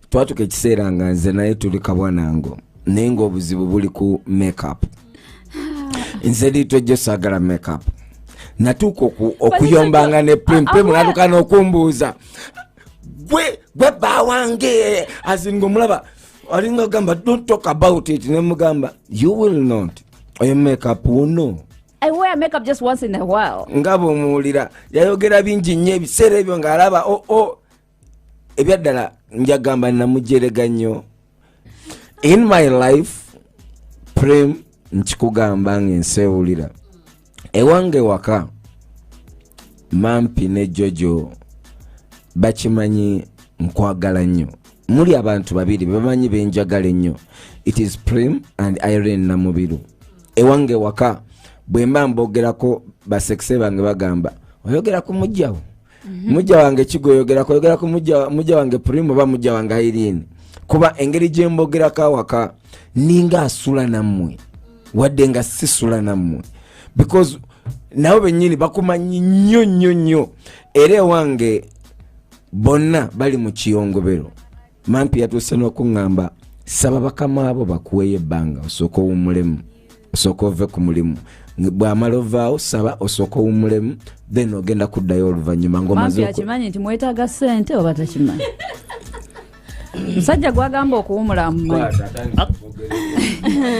twatuka ekiseera nga nze naye tuli kabwanango naye ngaobuzibu buli ku makeup nze liitwa ejjo saagala makeup natuuka okuyombanga ne pimpe munatuka nokumbuuza gwe gwe bba wange azinga omulaba alinga ogamba don't talk about it nemugamba you will not oyo makeup wuno nga bwomuwulira yayogera bingi nnyo ebiseera ebyo ng'alaba oo oh, oh, ebyaddala njagamba namujerega nnyo in my life prem nkikugamba nga ensewulira ewange waka mampi ne jojo bakimanyi nkwagala nnyo muli abantu babiri bebamanyi benjagala ennyo it is prem and irene namubiru ewange waka bwemba mbogerako basekise bange bagamba oyogera ku mujjawo mhm. mujja wange kigoyogera koyogera ku mujja wange purimu oba mujja wange airini kuba engeri gye mbogerako awaka ninga asula nammwe wadde nga sisula nammwe because nabo bennyini bakumanyi nnyo nnyo nnyo era ewange bonna bali mu kiyongobero mampi yatuuse n'okuŋŋamba saba bakama abo bakuweeyo ebbanga osooka owummulemu osooka ove ku mulimu bwamala ovaawo saba osooka owummulemu then ogenda kuddayo oluvannyuma ngaomazeakimanyi nti mwetaaga ssente oba takimanyi musajja gwagamba okuwumula mumanyi